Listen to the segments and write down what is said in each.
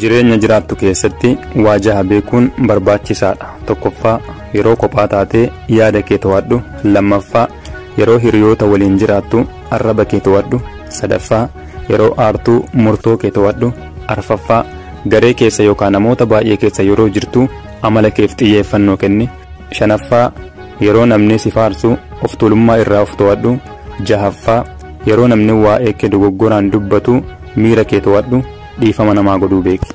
Jireenya jiraattu keessatti waa jaha beekuun barbaachisaadha. Tokkoffaa, yeroo kophaa taatee yaada kee to'adhu. Lammaffaa, yeroo hiriyoota waliin jiraattu arraba kee to'adhu. Sadaffaa, yeroo aartuu murtoo kee to'adhu. Arfaffaa, garee keessa yookaan namoota baay'ee keessa yeroo jirtu amala keef xiyyeeffannoo kenni. Shanaffaa, Yeroo namni si faarsu of tuulummaa irraa of to'adhu. Jahaffaa, Yeroo namni waa'ee kee dogoggoraan dubbatu miira kee to'adhu, dhiifama namaa godhuu beeki.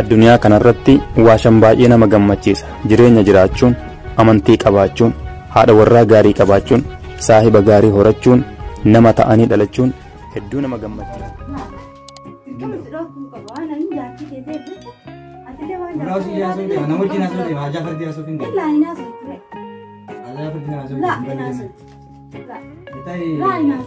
Addunyaa kanarratti waashan baay'ee nama gammachiisa. Jireenya jiraachuun, amantii qabaachuun, haadha warraa gaarii qabaachuun, saahiba gaarii horachuun, nama ta'anii dhalachuun hedduu nama gammachiisa. Laa, laa, laa.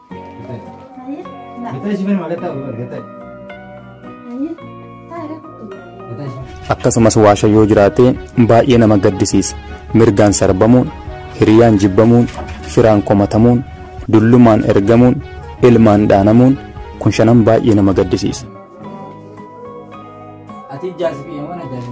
akkasumas waasha yoo jiraate baay'ee nama gaddisiisa mirgaan sarbamuun hiriyaan jibbamuun firaan komatamuun dullumaan ergamuun ilmaan dhaanamuun kun shanan baay'ee nama gaddisiisa. Ati ijaarsi biyya mana ijaarsi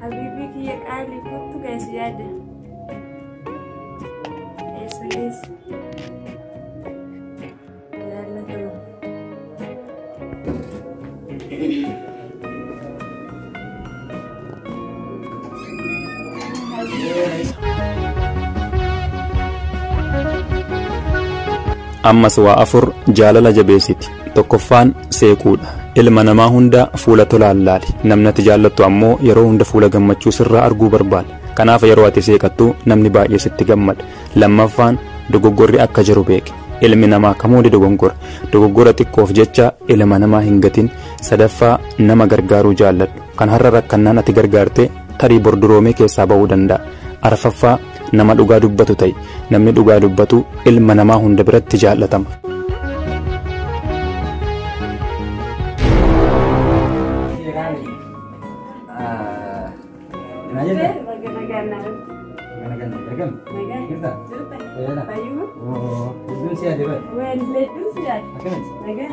Habiibii kiyya qaalii kottu gaasi yaada. Eessa geessa? Jaallatama. ammas waa afur jaalala jabeessiti. Tokkoffaan seequudha. Ilma namaa hunda fuula tolaan laali. Namni ati jaallattu ammoo yeroo hunda fuula gammachuu sirraa arguu barbaada. Kanaaf yeroo ati seeqattu namni baay'ee sitti gammada. Lammaffaan dogoggorri akka jiru beeki. Ilmi namaa kamuu ni dogongora. Dogoggora xiqqoof jecha ilma namaa hin gatin. Sadaffaa nama gargaaruu jaalladhu. Kan har'a rakkannaan ati gargaarte tarii bor duroomee keessaa ba'uu danda'a. Arfaffaa Nama dhugaa dubbatu ta'i. Namni dhugaa dubbatu ilma namaa hunda biratti jaallatama. Nagaan.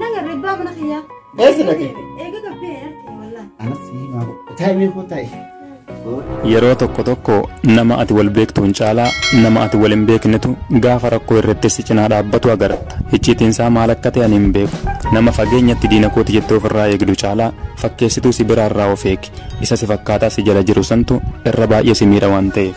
Naga ribbaa mana kiyyaa. Eessa dhaqe? Eega gabbee argee wallaan. Anas himaa taa'imee koo taa'e. Yeroo tokko tokko nama ati wal beektuun caalaa nama ati wal hin beeknetu gaafa rakkoo irratti si cinaa dhaabbatu agarta. Icciitiin isaa maal akka ta'e ani hin beeku. Nama fageenyatti diina kooti jettee ofirraa eegdu caalaa fakkeessituu si biraarraa of eegi. Isa si fakkaataa si jala jiru santu irra baay'ee si miidha waan ta'eef.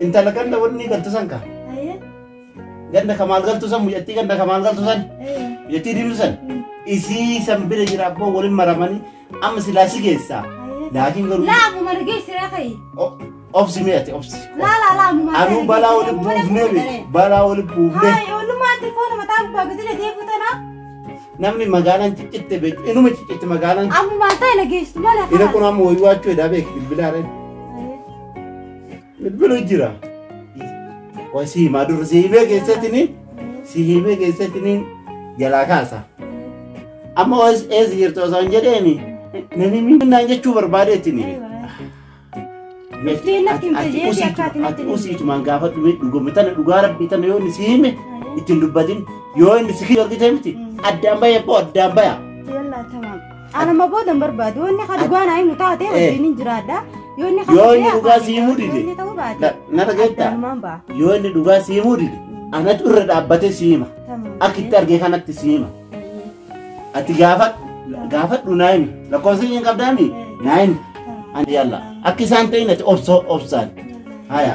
Intala ganda wanni galtu san kaa. Ayee. Ganda ka maal galtu san mucattii ganda ka maal galtu san. Ee. Mucattii diimtu san. Isii san bira jira abboo waliin maramanii amma silaa si geessaa. Ayee. Laakiin garuu Laa ammuma nageessiraa ka'i. o- obsi mi'ate obsi. Laa laa laa ammuma. Anuu balaa wali buufnee be balaa wali buufnee Hayi oolummaa tirfoona mataa gubbaa gadi na deebi'u tanaa. namni magaalaan ciccitte beektu inuma ciccitte magaalaan Ammumaan ta'e nageessitu mala. ina kun amma wayyuu achuu edaa beek bilbilaa dha. Bilbilu jira. Waan si himaa dura si himee keessatini si himee keessatini jalaa kaasa. Amma waas eessa jirtu osoo hin jedheeni nani minnaan jechuu barbaadeetini. Miftiin natti himte jeetii akka ati natti himte. Usiitumaan gaafa dhume dhuguma tana dhugaa rabbii tana yoo inni si hime ittiin dubbatin yoo inni si argite miti addaan baya boo addaan baya. Yallaa tamam. Anuma booda hin barbaadu. Yoo inni ka dhugaa naa himu taate wajjin hin jiraadha. Yoo inni ka Yoo inni sobee dhugaa afaan si himuu yoo dide. inni ta'uu baate. Na- na dhageetta? addaanumaan ba'a. Yoo inni dhugaa si himuu dide. Anatu irra dhaabbatee si hima. Tamam. Akka itti argee kanatti si hima. Ati gaafadhu. Gaafadhu naa himi. Lakkoofsa isheen qabdaa himi. Naa himi. Ani yalla. Akka isaan ta'in ati obsoo obsaan. Haya.